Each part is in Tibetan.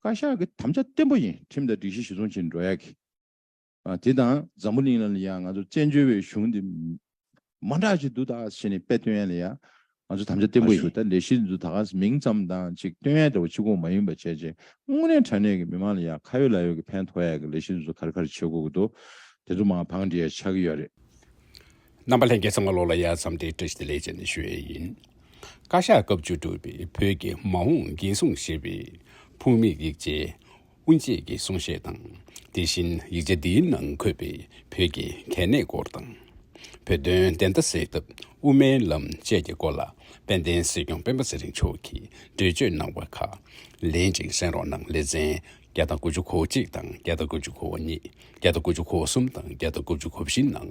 བཀའ་ཤག་གི་དམ་བཅའ་བརྟན་པོ་ཡིན་ཁྲིམས་དང་སྒྲིག་གཞི་གཞི་བཟུང་བྱེད་འགྲོ་ཡག་གི། དེ་དང་འཛམ་བུ་གླིང་ལ་ཡང་ང་ཚོ་བཙན་བྱོལ་བའི་གཞུང་འདི་མང་དྲག་ཅིག་འདུག་ད་ག་ས་བྱས་ནས་དཔེ་སྟོན་ཡ་ལ་ཡ། ང་ཚོ་དམ་བཅའ་བརྟན་པོ་ཡིན་ད་ལས་གཞི་འདུག་ད་ག་ས་མིང་ཙམ་དང་ཅིག་སྟོན་ཡ་འདྲ་བོ་ཕྱི་གོང་མ་ཡིན་པ་བྱས་རྗེས་དངོས་གནས་དྲ་གནས་ཀྱི་མི་མང་ལ་ཡང་ཁ་ཡོད་ལག་ཡོད་ཀྱི་ཕན་ཐོག་ཡ་གི་ལས་གཞི་འདི་ཚོ་ག་རེ་ག་རེ་བྱེད་དགོས་ཀྱི་འདུག་དེ་ཚོ་མང་བ་བང་འགྲིལ་ཡ་ཆགས་ཀྱི་ཡོད་རེད། རྣམ་པ་ལྷན་རྒྱས་ཚང་མ་བློ་ལ་ཡལ་ཙམ་དེ་བཀྲ་ཤིས་བདེ་ལེགས་བཅས་ནས་ཞུ་ཡས་ཡིན། བཀའ་ཤག་སྐབས་བཅུ་དྲུག་པའི་བོད་ཀྱི་མ་འོངས་འགན་སྲུང་བཞེས་པའི་ཕུགས་དམིགས་ཡིག་ཆའི་དབུ་འབྱེད་ཀྱི་གསུང་བཤད་དང་དེ་བཞིན་ཡིག་ཆ་དེའི་ནང་འཁོད་པའི་བོད་ཀྱི་གལ་གནད་སྐོར་དང། བོད་དོན་བདེན་མཐའ་གསལ་ཐབས་དབུ་མའི་ལམ་བཅས་ཀྱི་སྐོར་ལ་དཔལ་ལྡན་སྲིད་སྐྱོང་སྤེན་པ་ཚེ་རིང་མཆོག་གིས་འགྲེལ་བརྗོད་གནང་བ་ཁག་ལེན་ཅིང་གསན་རོགས་གནང་ལེ་ཚན་བརྒྱ་དང་དགུ་བཅུ་གོ་གཅིག་དང་བརྒྱ་དང་དགུ་བཅུ་གོ་གཉིས་བརྒྱ་དང་དགུ་བཅུ་གོ་གསུམ་དང་བརྒྱ་དང་དགུ་བཅུ་གོ་བཞི་ནང།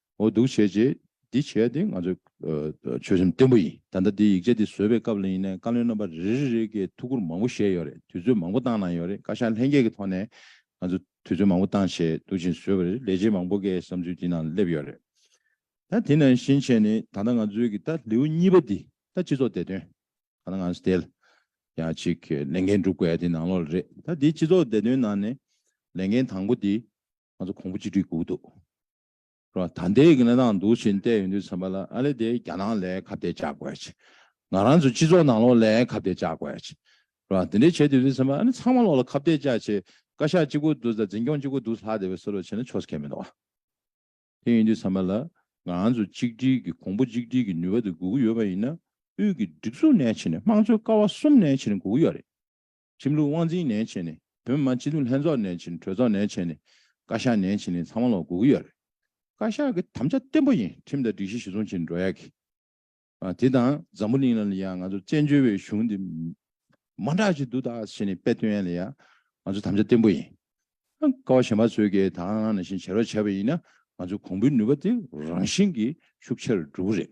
འོ་སྡུག་བྱས་རྗེས་འདི་བྱས་དེ་ང་ཚོའི་ཆོད་སེམས་བརྟན་པོ་ཡིན་ད་ལྟ་འདི་ཡིག་ཆ་འདི་བཟོས་པའི་སྐབས་ལ་ཡིན་ནའི་བཀའ་བློན་རྣམ་པ་རེ་རེ་རེ་གིས་ཐུགས་ཁུར་མང་པོ་བཞེས་ཡོད་རེད་དུས་ཚོད་མང་པོ་བཏང་གནང་ཡོད་རེད་བཀའ་ཤག་ལྷན་རྒྱས་ཀྱི་ཐོག་ནས་ང་ཚོ་དུས་ཚོད་མང་པོ་བཏང་བྱས་འདུག་ཅིང་བཟོས་པ་རེད་ལས་བྱེད་མང་པོ་འགའི་བསམ་ཚུལ་འདི་ནང་སླེབས་ཡོད་རེད་ད་དེ་ནང་བཞིན་བྱས་ནི་ད་ལྟ་ང་ཚོའི་གི་ད་ལེའུ་གཉིས་པ་འདི་ད་སྤྱི་ཚོགས་བདེ་དོན་གང་ན་ང་ཚོ་དེ་ཡང་ཅིག་ལས་འགན་སྒྲུབ་དགོས་དེ་ནང་ལོགས་ལ་རེད་ད་འདི་སྤྱི་ཚོགས་བདེ་དོན་ནང་ནས་ལས་འགན་དང་པོ་འདི་ང་ཚོ་གོང་བུ་གཅིག་སྒྲིལ་དགོས་ཀྱི་འདུག་རོ། ད་ལྟའི་གནས་སྟངས་འདུག་ཕྱིན་བལྟས་ཡོང་དུས་ཚན་པ་ལ་ཨ་ལེ་དེ་རྒྱ་ནང་ལས་ཁ་བརྡས་བཅག་དགོས་ཀྱི། ང་རང་ཚོ་སྤྱི་ཚོགས་ནང་ལོག་ལས་ཁ་བརྡས་བཅག་དགོས་ཀྱི། རོ། དེ་འདྲས་བྱས་དུས་དུས་ཚན་པ་ཨ་ལེ་ཚང་མ་ལོག་ལ་ཁ་བརྡས་བཅག་ཆེད་བཀའ་ཤག་གཅིག་པོ་འདུག་ད་འཛིན་སྐྱོང་གཅིག་པོ་འདུག་ལྷག་དེ་བས་སོ་ལོག་བྱས་ན་ཆོག་ས་ཁས་མི་འདུག་ཨ། དེ་ཡིན་དུས་ཚན་པ་ལ་ང་རང་ཚོ་གཅིག་སྒྲིལ་གྱི་གོང་བུ་གཅིག་སྒྲིལ་གྱི་ནུས་པ་དེ་དགོས་ཀྱི་ཡོད་པ་ཡིན་ན་དབུས་ཀྱི་སྒྲིག་འཛུགས་ནས་ཕྱིན་ནས་དམངས་གཙོའི་ཀ་བ་གསུམ་ནས་ཕྱིན་ནས་དགོས་ཀྱི་ཡོད་རེད། ཁྲིམས་ལུགས་དབང་འཛིན་ནན་བྱས་ནས་བོད་མི་མང་སྤྱི་འཐུས་ལྷན་ཚོགས་ནན་བྱས་ནས་གྲོས་ཚོགས་ནན་བྱས་ནས་བཀའ་ཤག་ནན་བྱས་ནས་ཚང་མ་ལོག་དགོས་ཀྱི་ཡོད་རེད། བཀའ་ཤག་གི་དམ་བཅའ་བརྟན་པོ་ཡིན་ཁྲིམས་དང་སྒྲིག་གཞི་གཞི་བཟུང་བྱས་ནས་འགྲོ་ཡག་གི། དེ་དང་འཛམ་བུ་གླིང་ལ་ཡང་ང་ཚོ་བཙན་བྱོལ་བའི་གཞུང་འདི་མ་འདྲ་ཞིག་འདུག་ད་བྱས་ནས་དཔེ་སྟོན་ཡ་ལ་ཡ། ང་ཚོ་དམ་བཅའ་བརྟན་པོ་ཡིན། ཀ་བ་གཞན་པ་ཚོས་ཀྱི་དང་བླངས་ནང་བཞིན་བྱེད་རོགས་བྱས་པ་ཡིན་ན་ང་ཚོའི་གོང་བུའི་ནུས་པ་དེ་རང་བཞིན་གྱིས་ཤུགས་ཆེ་རུ་འགྲོ་གི་རེད།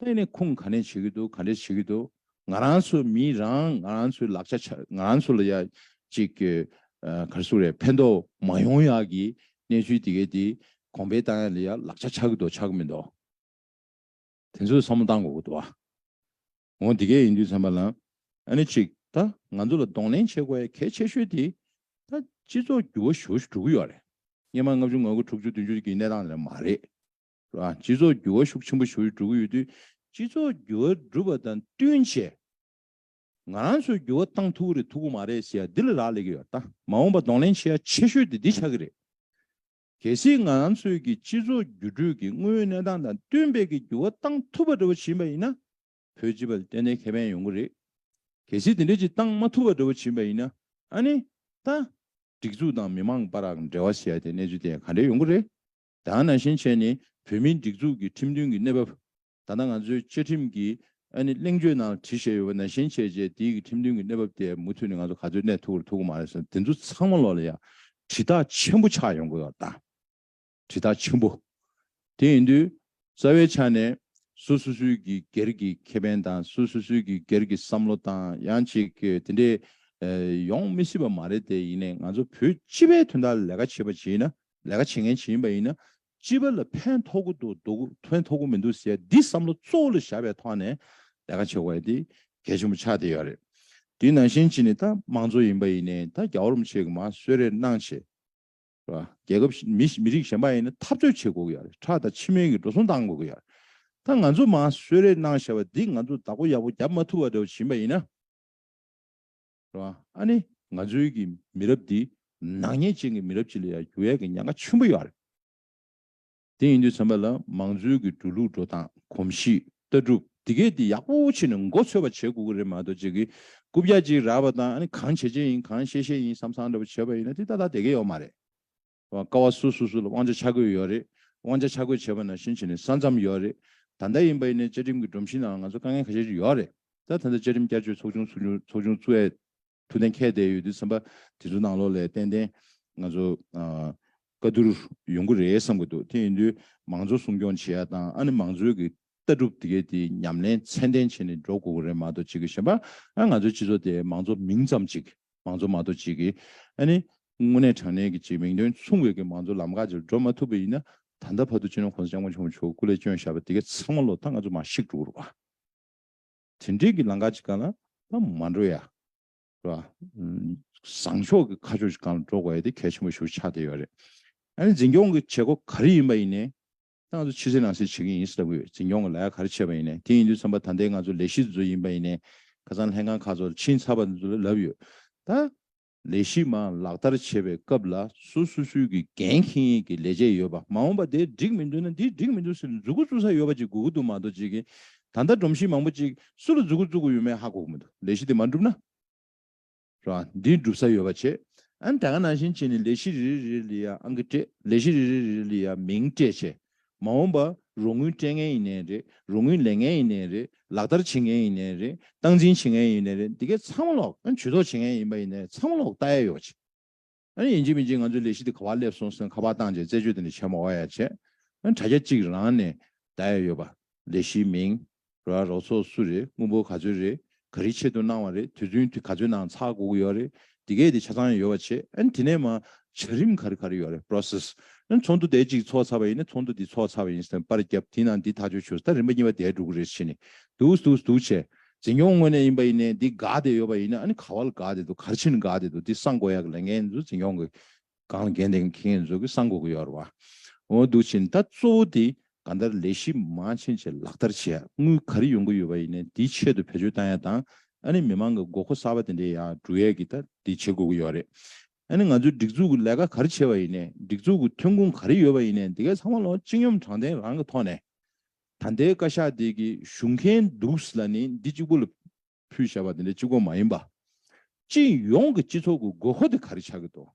ལྟས་ནས་ཁུངས་ག་ནས་བྱེད་ཀྱི་འདུག་ག་འདྲས་བྱེད་ཀྱི་འདུག་ང་རང་ཚོ་མིས་རང་ང་རང་ཚོའི་ལག་ཆ་ཆ་ང་རང་ཚོ་ལ་ཡ་ཅིག་གི་གར་སོང་རེད་ཕན་ཐོག་མ་ཡོང་ཡ་གི་གནས་ཚུལ་དེ་གའི་དེ་གོང་འཕེལ་བཏང་ཡ་ལ་ཡ་ལག་ཆ་ཆག་གི་འདུག་ཆག་གི་མི་འདུག་དེ་ཚོ་བསམ་བློ་བཏང་དགོས་ཀྱི་འདུག་ཨ་འོང་དེ་གས་ཡིན་དུས་ཚང་མ་ལ་ཨ་ནི་ཅིག་ད་ང་ཚོ་ལ་གདོང་ལེན་བྱེད་དགོས་ཡ་གལ་ཆེ་ཤོས་དེ་ད་སྤྱི་ཚོགས་འགྱུར་བ་ཞོ་ཞུ་འགྲོ་གི་ཡོ་རེད་སྙེ་མ་ལྔ་བཅུ་ང་དགུ་དྲུག་ཅུ་བདུན་ཅུ་གི་གནས་སྟངས་དེ་འདྲ་མ་རེད། སྤྱི་ཚོགས་འགྱུར་བ་ཤུགས་ཆེན་པོ་ཞིག་འགྲོ་གི་ཡོད་དུས། སྤྱི་ཚོགས་འགྱུར་བ་འགྲུབ་པ་དང་བསྟུན་ཆེད་ང་རང་ཚོས་འགྱུར་བ་བཏང་ཐུབ་ཀྱི་རེད་ཐུབ་ཀྱི་མ་རེད་ཞེས་འདི་ལ་རག་ལས་ཀྱི་ཡོད་ད། མ་འོངས་པར་གདོང་ལེན་བྱེད་ཡ་ཆེ་ཤོས་དེ་འདི་ཆགས་ཀྱི་རེད། གལ་སྲིད་ང་རང་ཚོས་ཀྱི་སྤྱི་ཚོགས་འགྱུར་འགྲོས་ཀྱི་དངོས་ཡོད་གནས་སྟངས་དང་བསྟུན་འབད་ཀྱིས་འགྱུར་བ་བཏང་ཐུབ་པ་འདྲ་བོ་བྱིན་པ་ཡིན་ན། བོད་སྤྱི་པ་ལ་ཏན་ཏན་ཁེ་ཕན་ཡོང་གི་རེད། གལ་སྲིད་དེ་འདྲས་ཀྱིས་བཏང་མ་ཐུབ་པ་འདྲ་བོ་བྱིན་པ་ཡིན་ན། ཨ་ནི། ད། སྒྲིག་འཛུགས་དང་མི་མང་བར་རག་འབྲེལ་བ་བྱེད་ཡ་དེ་གནས་ཚུལ་དེ་ག་འདྲས་ཡོང་གི་རེད། དང་ནང་བཞིན་བྱས་ནས་བོད་མིའི་སྒྲིག་འཛུགས་ཀྱི་ཁྲིམས་མཐུན་གྱི་གནས་བབ། ད་ལྟ་ང་ཚོའི་བཅའ་ཁྲིམས་ཀྱི་ཨ་ནི་གླེང་བརྗོད་ནང་བྲིས་བཞེས་ཡོད་པ་ནང་བཞིན་བྱས་རྗེས་དེའི་གི་ཁྲིམས་མཐུན་གྱི་གནས་བབ་དེ་མུ་མཐུད་ནས་ང་ཚོ་ག་ཚོད་གནས་ཐུབ་ར་ཐུབ་ཀྱི་མ་རེད་བསམ་དེ་ཚོ་ཚང་མ་ལོག་ལ་ཡ། དྲི་རྟགས་ཆེན་པོ་ཆགས་ཡོང་དགོས་པ་དང། དྲི་རྟགས་ཆེན་པོ། དེ་ཡིན་དུས། རྩ་བའི་ཆ་ནས། སུ་སུ་སུའི་གི་སྒེར་གྱི་ཁེ་ཕན་དང་སུ་སུ་སུའི་གི་སྒེར་གྱི་བསམ་བློ་དང་ཡང་ཅིག་གི་དེ་འདྲས། ཡོང་མི་སྲིད་པ་མ་རེད་དེ་ཡིན་ནས་ང་ཚོ་བོད་སྤྱི་པའི་དོན་དག་ལས་ཀ་བྱེད་པ་བྱེད་ན། ལས་ཀ་བྱེད་མཁན་ཇི་ཡིན་པ་ཡིན་ན། སྤྱི་པ་ལ་ཕན་ཐོགས་ཀྱི་འདུག་འདུག་ཕན་ཐོགས་ཀྱི་མི་འདུག་ཟེར་འདི་བསམ་བློ་གཙོ་བོ་ལ་བཞག་པའི་ཐོག་ནས་ལས་ཀ་བྱེད་དགོས་པ་དེ་གལ་ཆེན་པོ་ཆགས་བསྡད་ཡོད་རེད། དེ་ནང་བཞིན་གྱི་ནས་ད་དམངས་གཙོ་ཡིན་པ་ཡིན་ནས་ད་རྒྱ་བོར་མི་བྱེད་གི་མ་གསོད་རེ་གནང་བྱས། རེད་པ། རྒྱལ་ཁབ་མི་མི་རིགས་གཞན་པ་ཡིན་ན་འཐབ་རྩོད་བྱེད་དགོས་ཀྱི་ཡོད་རེད་ཁྲག་དང་ཕྱི་སྨན་གྱི་འགྲོ་སོང་བཏང་དགོས་ཀྱི་ཡོད་རེད། ད་ང་ཚོ་མ་གསོད་རེ་གནང་བྱས་པ་འདི་ང་ཚོ་བདག་པོ་ཡག་པོ་བརྒྱབ་མ་ཐུབ་པ་འདྲ་བོ་བྱིན་པ་ཡིན་ན། རེད། ཨ་ནི་ང་ཚོའི་གི་མི་རབས་འདི་ནག་ཉེས་ཅན་གི་མི་རབས་ཅིག་ལ་ཡང་འགྱུར་བས་གི་ཉེན་ཁ་ཆེན་པོ་ཡོད་རེད། དེ་ཡིན་དུས་ཚང་མ་ལ་མང་གཙོའི་གི་འགྲོ་ལུགས་འགྲོ་སྟངས་གོམས་གཤིས་ལྟ་གྲུབ་འདི་གས་འདི་ཡག་པོ་ཕྱིས་ནས་མགོ་འཚོས་པ་བྱེད་དགོས་གི་རེད་མ་གཏོགས་ཅིག་གི་རྐུབ་བཀྱག་ཅིག་རག་པ་དང་ཨ་ནི་གང་བྱེད་བྱེད་ཡིན་གང་བཤད་བཤད་ཡིན་བསམ་བསམ་འདྲ་པོ་བྱེད་པ་ཡིན་ན་དེ་ད་ལྟ་དེ་གས་ཡོད་མ་རེད། ཀ་བ་སུ་སུ་སུ་ལ་དབང་ཆ་ཆ་བགོས་ཡོད་རེད། དབང་ཆ་ཆ་བགོས་བྱས་པ་ནང་བཞིན་བྱས་ནས་ས་མཚམས་ཡོད་རེད། ད་ལྟ་ཡིན་པ་ཡིན་ནའི་བཅའ་ཁྲིམས་ཀྱི་སྒྲོམ་གཞིའི་ནང་ང་ཚོར་དཀའ་ངལ་ཁ་ཤས་ཤིག་ཡོད་རེད། ད་ལྟ་ད་བཅའ་ཁྲིམས་བསྐྱར་བཅོས་ཚོགས་ཆུང་ཚོགས་ཆུང་ཚོགས་ཆུང་བཙུགས་ཡས་ཐུགས་གཏན་འཁེལ་བསྡད་ཡོད་དུས་སེམས་པ་དེ་ཚོ་ནང་ལོགས་ལས་ཏན་ཏན་ང་ཚོ་བཀའ་བསྡུར་ཡོང་གི་རེད་བསམ་གྱི་འདུག་དེ་ཡིན་དུས་མང་གཙོ་སྲུང་སྐྱོང་བྱེད་ཡ་དང་ཨ་ནི་མང་གཙོའི་གི་ལྟ་གྲུབ་དེ་གའི་དེའི་ཉམས་ལེན་ཚད་ལྡན་བྱས་ནས་འགྲོ་དགོས་ཀྱི་རེད་མ་གཏོགས་ཅིག་གཞན་པར་ང་ཚོའི་སྤྱི་ཚོགས་དེ་མང་གཙོ་མིང་ཙམ་ཅིག་མང་གཙོ་མ་གཏོགས་ཅིག་གིས་ཨ་ནི་དངོས་གནས་དྲང་གནས་ཀྱི་ཅིག་མིང་དོན་མཚུངས་བའི་གི་མང་གཙོ་ལམ་ཁ་ཅིག་འགྲོ་མ་ཐུབ་པ་ཡིན་ན་ད་ལྟ་བར་དུ་ཅི་ནུས་གོང་ས་སྐྱབས་མགོན་ཆེན་པོ་མཆོག་སྐུ་ལས་བསྐྱོན་བཞག་པ་དེ་གའི་ཚང་མ་ལོ་ལྟར་ང་ཚོ་མ་ཤིག་འགྲོ་རུ་དེ་འདྲའི་གི་ལམ་ཁ་ཅིག་གང་ལ་ལ་མ་འགྲོ་ཡ་རེད་བ། བཟང་ཕྱོགས་གི་ཁ་ཕྱོགས་ཅིག་གང་ལ་འགྲོ་དགོས་ཡ་དེ་གལ་ཆེན་པོ་ཞུ་ཆགས་དེ་ཡོད་རེད། ཨ་ནི་འཛིན་སྐྱོང་གི་བྱེད་སྒོ་ག་རེ་ཡིན་པ་ཡིན་ནའི་ཏང་ཙུའི་ཕྱི་གསལ་ནང་གསལ་བྱེད་མཁན་ཡིན་ཟེར་ལྟ་བུའི་འཛིན་སྐྱོང་གི་ལ་ཡ་ག་རེ་བྱས་པ་ཡིན་ནས་དེ་ཡིན་དུས་ཚན་པ་ད་ལྟའི་ང་ཚོ་ལས་གཞི་འཛུགས་ཡིན་པ་ཡིན་ནས་ཁ་སང་ལྷན་ཁང་ཁག་ཚོར་ཕྱིན་ཚར་བ་ལབ་ཡོད་ད། ལས་གཞི་མང་ལག་བསྟར་བྱེད་པའི་སྐབས་ལ་སོ་སོ་སོའི་གི་འགན་འཁྱེན་ཡས་ཀྱི་ལས་བྱས་ཡོད་པ་མ་འོངས་པ་དེ་འགྲིག་མི་འདུག་ན་འདི་འགྲིག་མི་འདུག་ཟེར་ནས་འཛུགས་འགོ་བཙུགས་ས་ཡོད་པ་ཅིག་དགོས་ཀྱི་འདུག་མ་གཏོགས་ཅིག་གིས་ད་ལྟ་སྒྲོམ་གཞི་མང་པོ་ཅིག་སུ་ལ་འཛུགས་འགོ་བཙུགས་དགོས་ཡོད་མེད་ཧ་གོ་གི་མི་འདུག་ལས་གཞི་དེ་མ་འགྲུབ་ན། རང་འདི་སྒྲུབ་ས་ཡོད་པ་བྱེད། ཨན་ད་ག་ནང་བཞིན་བྱེད་ནི་ལས་གཞི་རེ་རེ་རེ་རེ་ལི་ཡ་ཨང་ཀི་སྤྲད་ལས་གཞི་རེ་རེ་རེ་རེ་ལི་ཡ་མིང་སྤྲད་བྱས། མ་འོངས་པ་རོགས་དངུལ་སྤྲད་མཁན་ཡིན་ནའི་རེད་རོགས་དངུལ་ལེན་མཁན་ཡིན་ནའི་རེད་ལག་བསྟར་བྱེད་མཁན་ཡིན་ནའི་རེད་སྟངས་འཛིན་བྱེད་མཁན་ཡིན་ནའི་རེད་འདི་གས་ཚང་མ་ལོག་ཨན་ཇུས་ཏོག་བྱེད་མཁན་ཡིན་པ་ཡིན་ནའི་ཚང་མ་ལོག་ལྟ་ཡ་ཡོག་བྱེད། ཨ་ཡིན་གཅིག་མིན་གཅིག་ང་ཚོའི་ལས་གཞི་འདི་ག་བར་སླེབས་སོང་ཟེར་ནས་ཁ་པར་བཏང་རྗེས་རྩད་གཅོད་དེ་ནི་བྱེད་མ་བ་ཡ་བྱས། དྲ་རྒྱ་གཅིག་རང་ནས་བརྡ་ཡ་ཡོད་པ། ལས་གཞིའི་མིང། རོ་ཡ་རོགས་ཚོགས་སུ་རེད་དངུལ་འབོར་ག་ཚོད་རེད་ག་རེའི་ཆེད་དུ་གནང་བ་རེད་དུས་ཚུན་དུ་ག་ཚོད་ནང་ཚགས་སྒུག་ཡོད་རེད་དེ་སྐད་དེ་ཆ་ཚང་ཡ་ཡོད་བ་བྱས། དེ་ནས་མར་བྱ་རིམ་ག་རེ་ག་རེ་ཡོད་རེད process། ཚོགས་འདུ་དེ་གཅིག་ཚོགས་ཚར་བ་ཡིན་ནས་ཚོགས་འདུ་འདི་ཚོགས་ཚར་བ་ཡིན་ཟེར་ནས་པར་བརྒྱབ་དེའི་ནང་འདི་ཐག་གཅོད་བྱུང་ཟེར་ད་རིམ་པ་གཉིས་པ་དེ་སྒྲུག་རེས་བྱས་ནས་འདུག་འདུག་བྱས། འཛིན་སྐྱོང་དངོས་གནས་ཡིན་པ་ཡིན་ནའི་འདི་དགའ་བདེ་ཡོད་པ་ཡིན་ནའི་ཨ་ནི་ག་བ་ལ་དགའ་བདེ་འདུག་གར་ཕྱིན་དགའ་བདེ་འདུག་འདི་གསང་དགོས་ཡག་གི་ལས་འགན་ཡིན་ཚུལ་འཛིན་སྐྱོང་གི་སྒང་ལ་འགན་འདེང་གི་ཁེ་ཡིན་ཚུལ་གི་གསང་དགོས་ཀྱི་ཡོད་ར་བ་འོ་འདུག་ཕྱིན་ད་གཙོ་བོ་འདི་ག་འདར་ལས་གཞི་མང་ཕྱིན་ཆད་ལག་བསྟར་བྱེད་ཡག་དངུལ་ག་རེ་ཡོང་གི་ཡོད་པ་ཡིན་ནའི་འདི་ཆེད་དུ་བེད་སྤྱོད་བཏང་ཡག་དང་ཨ་ནི་མི་མང་གི་དགོས་མཁོ་གསར་བ་དེ་འདྲེ་ཡག་སྒྲུག་ཡག་གི་ད་འདི་བྱེད་དགོས་ཀྱི་ཡོད་རེད་ཨ་ནི་ང་ཚོའི་སྒྲིག་འཛུགས་གི་ལས་ཀ་ག་རེ་བྱེད་པ་ཡིན་ནའི་སྒྲིག་འཛུགས་གི་ཐོན་ཁུངས་ག་རེ་ཡོད་པ་ཡིན་ནའི་འདི་ག་ཚང་མ་ལོ་གཅིག་གཉོམ་གྲང་ལྡན་རང་གི་ཐོག་ནས་ད་ལྟའི་བཀའ་ཤག་དེ་གི་བཞུགས་མཁན་འདུག་ཟེར་ལ་ནི་འདི་གཅིག་པུ་ལ་ཕུལ་བྱས་པ་དེ་འདྲ་གཅིག་གོ་མ་ཡིན་པ། སྤྱི་ཡོངས་ཀྱི་སྤྱི་ཚོགས་ཀྱི་དགོས་མཁོ་དེ་ག་རེ་ཆགས་ཀྱི་འདུག་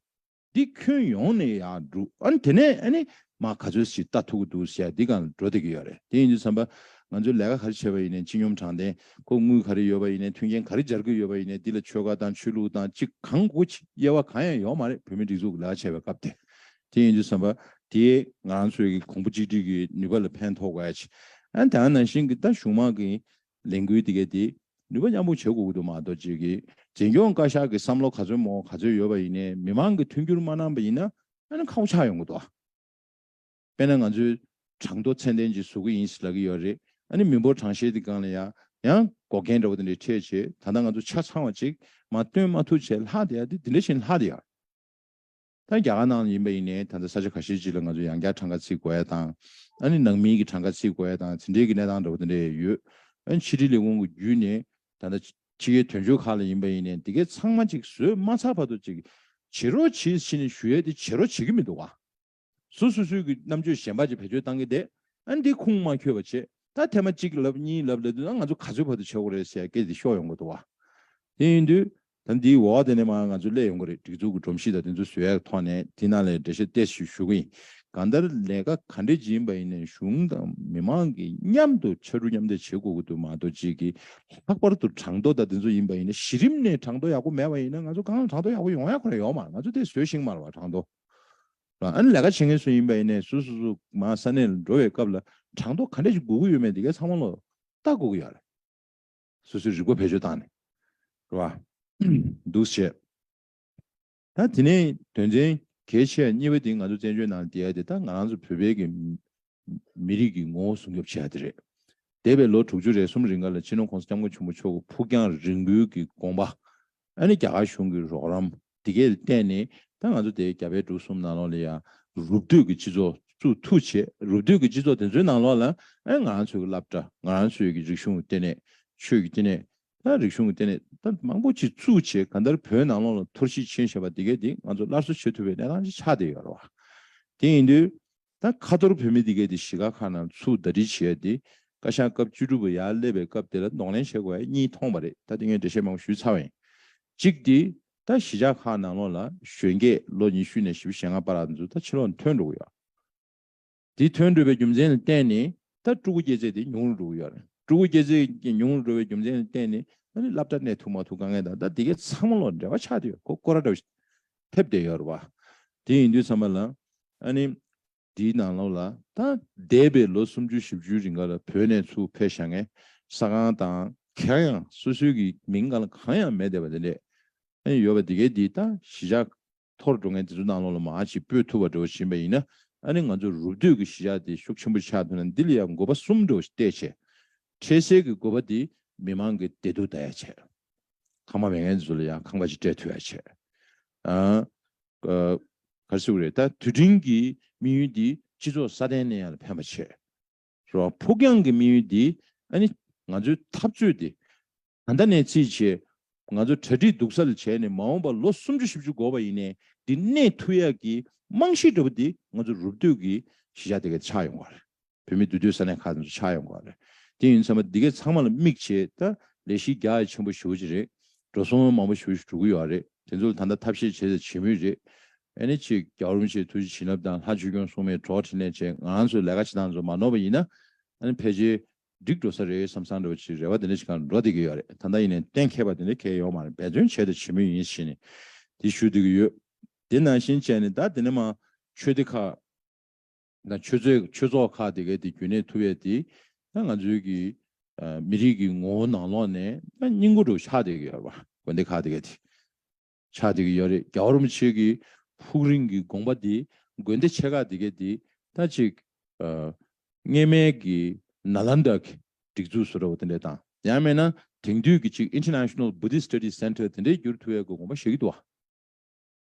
འདི་ཁྱོན་ཡོངས་ནས་ཡང་འགྲུབ་ཨ་ནི་དེ་ནས་ཨ་ནི་མ་ག་ཚོད་ཞིག་ལྟ་ཐུབ་ཀྱི་འདུག་ཟེར་ཡ་འདི་གང་འགྲོ་བསྡད་ཀྱི་ཡོད་རེད་དེ་ཡིན་དུས་བསམ་པ། ང་ཚོས་ལས་ཀ་ག་རེ་བྱས་པ་ཡིན་ནས་སྤྱི་སྙོམས་དྲང་བདེན་གོ་དངུལ་ག་རེ་ཡོད་པ་ཡིན་ནས་མཐུན་རྐྱེན་ག་རེ་སྦྱར་དགོས་ཡོད་པ་ཡིན་ནས་འདི་ལ་ཆོལ་ཁ་དང་ཆོས་ལུགས་དང་སྤྱི་གང་དགོས་ཀྱི་དབྱེ་བ་གང་ཡང་ཡོད་མ་རེད་བོད་མི་སྒྲིག་འཛུགས་ལས་ཀ་བྱས་པའི་སྐབས་དེ་དེ་ཡིན་དུས་བསམ་པ་དེས་ང་ཚོས་ཀྱི་གོང་བུ་གཅིག་སྒྲིལ་གྱི་ནུས་པ་ལ་ཕན་ཐོགས་དཀའ། ཨན་དང་ནང་བཞིན་གྱི་ད་གཞུང་མང་གི་ལས་འགུལ་དེ་གའི་དེ་ནུས་པ་མཉམ་སྤུངས་བྱེད་དགོས་ཀྱི་འདུག་མ་གཏོགས་རྗེས་ཀྱི་རྗེས་འགྱོང་བཀའ་ཤག་གི་བསམ་བློ་ག་ཚོད་མོ་ག་ཚོད་ཡོད་པ་ཡིན་ནའི་མི་མང་གི་མཐུན་འགྱུར་མ་གནང་པ་ཡིན་ན་ཨན་ཁག་པོ་ཆགས་ཡོང་གི་འདུག་ཨ། དཔེར་ན་ང་ཚོའི་གྲངས་ཐོ་ཚད་ལྡན་གྱི་བཟོ་གི་ཡིན་ཞེས་ལབ་ཀྱི་ཡོད་རེད་ཨནི་མི་འབོར་གྲངས་བཤེར་དེ་སྒང་ལ་ཡང་ཡང་འགོག་རྐྱེན་འདྲ་བོ་དེ་འདྲས་འཕྲད་རྗེས་ད་ལྟ་ང་ཚོ་ཆ་ཚང་བ་གཅིག་མ་བཏོན་མ་ཐུག་བྱས་ལྷག་དེ་ཡ་དེ་འདི་འདྲ་བྱིན་ལྷག་དེ་ཡ། ད་རྒྱ་གར་ནང་ལ་ཡིན་པ་ཡིན་ནའི་ད་ལྟ་ས་ཆ་ག་ཤེད་ཅིག་ལ་ང་ཚོ་ཡང་བསྐྱར་གྲངས་ཀ་ཚིག་གོ་ཡ་དང། ཨ་ནི་ནང་མིའི་གི་གྲངས་ཀ་ཚིག་གོ་ཡ་དང་དེ་འདྲའི་གི་གནས་སྟངས་འདྲ་བོ་དེ་འདྲ་ཡ་ཡོད། ཨ་ཕྱི་དྲིལ་ལས་ཁུངས་གི་བརྒྱུད་ནས་ད་ལྟ་ཕྱི་རྒྱལ་དོན་གཅོད་ཁག་ལ་ཡིན་པ་ཡིན་ནའི་འདི་གའི་ཚང་མ་ཅིག་བཟོས་མ་ཚར་བར་དུ་ཅིག་བྱེད་རོགས་བྱེད་བྱེད་ནས་ཞུ་ཡ་དེ་བྱེད་རོགས་བྱེད་གི་མི་འདུག་ག་སུ་སུ་སུའི་གི་རྣམ་དཔྱོད་གཞན་པ་ཅིག་བེད་སྤྱོད་བཏང་གི་བསྡད་ཨ་ནི་དེ་ཁུངས་མ་འཁྱོལ་བ་བྱེད་ད་ཐེངས་མ་གཅིག་ལབ་གཉིས་ལབ་ལས་དུས་ན་ང་ཚོ་ག་ཚོད་བར་དུ་བྱེད་དགོས་རེད་ཟེར་ཡ་སྐད་དེ་ཤོག་ཡོང་གི་འདུག་ག་དེ་ཡིན་དུས་ད་འདིའི་འོག་དེ་ནས་མར་ང་ཚོ་སླེབས་ཡོང་གི་རེད་སྒྲིག་འཛུགས་ཀྱི་སྒྲོམ་གཞི་དང་དེ་ཚོ་བཟོས་ཡག་གི་ཐོག་ནས་དེ་ནང་ལས་འབྲེལ་ཤེས་བསྟེར་ཞིག་ཞུ་གི་ཡིན། གང་ལྟར་ལས་ཀ་ག་འདྲའི་ལྗིད་ཡིན་པ་ཡིན་ནའི་གཞུང་དང་མི་མང་གིས་མཉམ་དུ་ཕྱར་གྲུ་མཉམ་འདེགས་བྱེད་དགོས་ཀྱི་འདུག་མ་གཏོགས་གཅིག་གིས་ལྷག་པར་དུ་གྲངས་ཐོ་དང་དེ་ཚོ་ཡིན་པ་ཡིན་ན་གཞི་རིམ་ནས་གྲངས་ཐོ་ཡག་པོ་མེད་པ་ཡིན་ན་ང་ཚོ་གང་ལ་གྲངས་ཐོ་ཡག་པོ་ཡོང་ཡ་ཁོ་ན་ཡོང་མར་ང་ཚོ་དེ་བཟོས་ཤིང་མར་བ་གྲངས་ཐོ་རང་ཨ་ནི་ལས་ཀ་བྱེད་མཁན་སུ་ཡིན་པ་ཡིན་ནའི་སུ་སུ་སུ་མ་ས་གནས་ལ་འགྲོ་བའི་སྐབས་ལ་གྲངས་ཐོ་ག་འདྲ་ཞིག་དགོས་ཀྱི་ཡོད་མེད་དེ་གས་ཚང་མ་ལོ་ལྟ་དགོས་ཀྱི་ཡོད་རེད། སོ་སོའི་རིག་པ་བེད་སྤྱོད་བཏང་ནས། རེད་བ། འདུག་བྱས། ད་དེ་ནས་དོན་ཚན་གལ་ཆེ་བ་གཉིས་པ་དེ་ང་ཚོ་བཙན་བྱོལ་ནང་བསྡད་དེ་ད་ང་རང་ཚོ་བོད་པའི་གི་མི་རིགས་ཀྱི་ངོ་བོ་སྲུང་སྐྱོབ་བྱེད་ཡ་དེ་རེད། འདས་པའི་ལོ་དྲུག་ཅུ་རེ་གསུམ་རིང་ག་ལ་སྤྱི་ནོར་ཁོང་ས་སྐྱབས་མགོན་ཆེན་པོ་མཆོག་གི་ཕུགས་རྒྱང་རིང་པོའི་གི་དགོངས་པ་ཨ་ནི་རྒྱ་གར་གཞུང་གི་རོགས་རམ་འདི་གའི་སྟེང་ནས་ད་ང་ཚོ་དེ་རྒྱ་བལ་འབྲུག་གསུམ་ནང་ལོགས་ལ་ཡང་རུབ་བསྡུས་ཀྱི་སྤྱི་ཚོགས་བཙུགས་ཐུབ་ཆེད་རུབ་བསྡུས་ཀྱི་སྤྱི་ཚོགས་དེ་ཚོའི་ནང་ལོགས་ལ་ཨ་ང་རང་ཚོའི་བསླབ་གྲྭ་ང་རང་ཚོའི་གི་རིག་གཞུང་གི་ལྟེ་གནས་ཆོས་ཀྱི་ལྟེ་གནས་ད་རིག་གཞུང་གི་ལྟེ་གནས་ད་མང་པོ་ཅིག་བཙུགས་ཆེད་ག་འདར་བོད་ནང་ལོགས་ལ་ཐོར་ཞིག་ཆེན་བྱས་པ་འདི་གའི་འདི་ང་ཚོ་སླར་གསོ་བྱེད་ཐུབ་པའི་གནས་སྟངས་ཅིག་ཆགས་བསྡད་ཡོད་རེད་བ། དེ་ཡིན་དུས། ད་ཁ་ཐོར་བུད་མེད་འདི་གའི་དེ་ཞི་ག་ཁ་ནང་ཚུགས་ཟླ་སྒྲིལ་བྱས་ཏེ་བཀའ་ཤག་སྐབས་བཅུ་དྲུག་པ་ཡར་སླེབས་པའི་སྐབས་དེ་ལ་གདོང་ལེན་བྱེད་དགོས་པ་གཉིས་མཐོང་བ་རེད་ད་དེ་ངས་འགྲེལ་བཤད་མང་པོ་ཞུས་ཚར་བ་ཡིན། གཅིག་དེ་ད་གཞིས་ཆགས་ཁག་ནང་ལོགས་ལ་གཞོན་སྐྱེས་ལོ་ཉི་ཤུ་ནས་བཞི་བཞི་ཞེ་ལྔ་པ་རགས་འཛུགས་ད་ཕྱི་ལོགས་འཐོན་འགྲོ་གི་ཡོད། དེ་འཐོན་འགྲོ་བའི་རྒྱུ་མཚན་ལ་བརྟེན་ནས་ད་སྤྲུལ་སྐུ་སྐྱེས་ཚད་དེ་ཉུང་རུ་འགྲོ་གི་ཡོད། སྤྲུལ་སྐུ་སྐྱེས་ཚད་ཉུང་རུ་འགྲོ་བའི་རྒྱུ་མཚན་ལ་བརྟེན་ནས་ད་ནི་བླ་བྲ་གནས་ཐུབ་མ་ཐུབ་དཀའ་ངལ་དང་ད་དེ་གའི་ཚང་མ་ལོགས་འབྲེལ་བ་ཆགས་དེ་ཡོད་གོ་སྐོ་ར་འདྲ་བོ་ཞིག་ཐེབས་བསྡད་ཡོད་རེད། དེ་ཡིན་དུས་ཚང་མ་ལ། ཨ་ནི། འདིའི་ནང་ལོགས་ལ། ད། འདས་པའི་ལོ་སུམ་ཅུ་བཞི་བཅུའི་རིང་ག་ལ་བོད་ནས་ཚུར་ཕེབས་ཞག་ངས་ས་ཁང་དང། གང་ཡང་སོ་སོའི་གི་མིང་ག་ལ་གང་ཡང་མེད་བསྡད་པ་དེ་འདྲས། ཨ་ནི་ཡོད་པ་དེ་གའི་དེའི་ད་གཞི་ཆགས། ཐོར་འགྲོ་མཁན་དེ་ཚོ་ནང་ལོགས་ལ་མ་ཅིག་སྤོས་ཐུབ་པ་འགྲོ་བཞིན་པ་ཡིན་ན་ཨ་ནི་ང་ཚོ་རུབ་སྡོད་གི་གཞི་ཆགས་དེ་ཤུགས་ཆེན་པོ་ཆགས་ཐུབ་ན་འདི་ལ་ཡང་དགོས་པ་གསུམ་འགྲོ་བཞིན་བལྟས་བྱས། འཕྲལ་སེལ་གི་དགོས་པ་དེ་མི་མང་གི་བདེ་སྡུག་ད་ཡ་བྱས། ཁང་པ་མེད་མཁན་ཚོ་ལ་ཡང་ཁང་པ་ཞིག་སྤྲད་ཐུབ་ཡ་བྱས། ག་སེ་བོ་རེད་ད་དུས་དྲིན་གྱི་དམིགས་ཡུལ་འདིས་སྤྱི་ཚོགས་སྲ་བརྟན་ནས་ཡང་ལ་ཕན་པ་བྱས། རེད་བ་ཕུགས་རྒྱང་གི་དམིགས་ཡུལ་འདིས་ཨ་ནི་ང་ཚོའི་འཐབ་རྩོད་དེ་ད་ལྟ་ནས་རྩིས་བྱས། ང་ཚོ་གྲ་སྒྲིག་སྡུག་ས་ལ་བྱས་ནས་མ་འོངས་པ་ལོ་སུམ་ཅུ་བཞི་བཅུ་འགོར་བ་ཡིན་ནའི་འདི་གནས་ཐུག་ཡག་གི་རྨང་གཞི་འདྲ་པོ་འདི་ང་ཚོ་རུབ་བསྡུས་ཀྱི་གཞི་ཆགས་དེ་གས་ཆགས་ཡོང་བ་རེད། བོད་མི་འདུས་སྡོད་ས་གནས་ཁག་ནས་སུ་ཆགས་ཡོང་གི་བ་རེད་དེ་ཡིན་ཚང་མ་འདི་གའི་ཚང་མ་ལ་དམིགས་བྱེད་ད་ལས་གཞི་རྒྱ་ཡ་ཆེན་པོ་ཞུ་གྱི་རེད་འགྲོ་སོང་མང་པོ་ཞུ་ཞུ་གི་ཡོད་བ་རེད་དེ་ཚོ་ལ་ད་ལྟ་ཐབས་ཤེས་བྱེད་ས་བྱེད་མུས་རེད་ཨ་ནི་ཅིག་རྒྱ་རོམ་ཆེ་ཐུ་ཅི་བྱིན་རླབས་དང་ལྷ་ཆོས་སྐྱོང་སྲུང་མའི་གྲོགས་ཁྲིད་ནས་བྱས་ང་རང་ཚོའི་ལས་ཀ་བྱེད་སྟངས་ཚོ་མ་ནོར་བ་ཡིན་ན་ཨ་ནི་ཕལ་ཆེར་འགྲིག་འགྲོ་ས་རེད་བསམ་བསམ་འདྲ་བ་ཅིག་རེ་བ་དེ་འདྲ་ཅིག་གང་འགྲོ་བསྡད་ཀྱི་ཡོད་རེད་ད་ལྟ་ཡིན་ནས་གཏན་འཁེལ་བ་དེ་འདྲ་གལ་ཡོད་མ་རེད་འབད་བརྩོན་བྱས་ཏེ་བྱེད་མུས་ཡིན་བྱས་ནས་དེ་ཞུ་སྡོད་ཀྱི་ཡོད་དེ་ནང་བཞིན་བྱས་ནས་ད་དེ་ནས་མ་ཆོས་སྡེ་ཁག། ན་ཆོས་ཚོགས་ཆོས་ཚོགས་ཁག་དེ་གའི་དེ་རྒྱུན་གནས་ཐུབ་ཡས་དེ་ན་ང་ཚོའི་གི་མི་རིགས་གི་ངོ་བོ་ནང་ལོགས་ནས་ན་སྙིང་པོ་དྲུག་ཆགས་བསྡད་གི་ཡོད་རེད་པ་དགོན་སྡེ་ཁག་དེ་གའི་དེ་ཆགས་བསྡད་གི་ཡོད་རེད་རྒྱ་བོར་མི་ཆོས་གི་ཕུགས་རིང་གི་དགོངས་པ་དེ་དགོན་སྡེ་ཆེ་ཁག་དེ་གའི་དེ་ན་གཅིག་གཉེས་མལ་གི་ན་ལམ་དག་གི་སྒྲིག་འཛུགས་སུ་རེད་བ་དེ་འདྲས་དང་ཡང་མེད་ན་དེང་དུས་གི་གཅིག International Buddhist Studies Center དེ་འདྲས་འགྱུར་ཐུབ་ཡས་གི་དགོངས་པ་བཞེས་གི་འདུག་བ།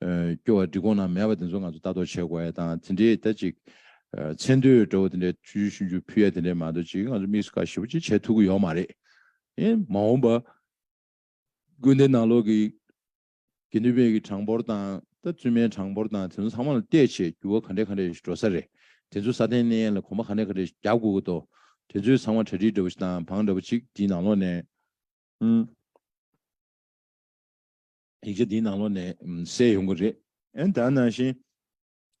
སྐྱོ་བ་འབྲི་དགོངས་ན་མེད་པ་དེ་ཚོ་ང་ཚོ་ལྟ་རྟོག་བྱེད་དགོས་ཡ་དང་དེ་འདྲའི་ད་ཅིག་མཚན་དུས་འདྲ་བོ་དེ་འདྲའི་ཆུ་ཆུ་ཤུན་ཤུན་ཕུལ་ཡ་དེ་འདྲའི་མ་འདུག་ཅིག་ང་ཚོ་མིག་ཟུ་ཁ་ཞིབ་པོ་ཅིག་བྱེད་ཐུབ་ཀྱི་ཡོད་མ་རེད། ཨེ་མ་འོངས་པ། དགོན་སྡེ་ནང་ལོག་གི་དགེ་འདུན་པའི་གི་གྲངས་འབོར་དང་ད་བཙུན་མའི་གྲངས་འབོར་དང་དེ་ཚོ་ཚང་མ་ལ་བལྟས་ཆེད་འགྱུར་བ་ག་འདྲས་ག་འདྲས་ཞིག་འགྲོ་ས་རེད་དེ་ཚོ་ས་སྟེང་གནས་ཡན་ལ་གོང་མ་ག་འདྲས་ག་འདྲས་ཞིག་རྒྱག་དགོས་ཀྱི་འདུག་དེ་ཚོས་ཚང་མ་གྲ་སྒྲིག་འདྲ་བོ་ཞིག་དང་བང་འདྲ་བོ་ཅིག་འདིའི་ནང་ལོག་ནས། ཡིག་ཆ་འདིའི་ནང་ལོགས་ནས་གསལ་ཡོང་གི་རེད། ཨན་ད་ནང་བཞིན།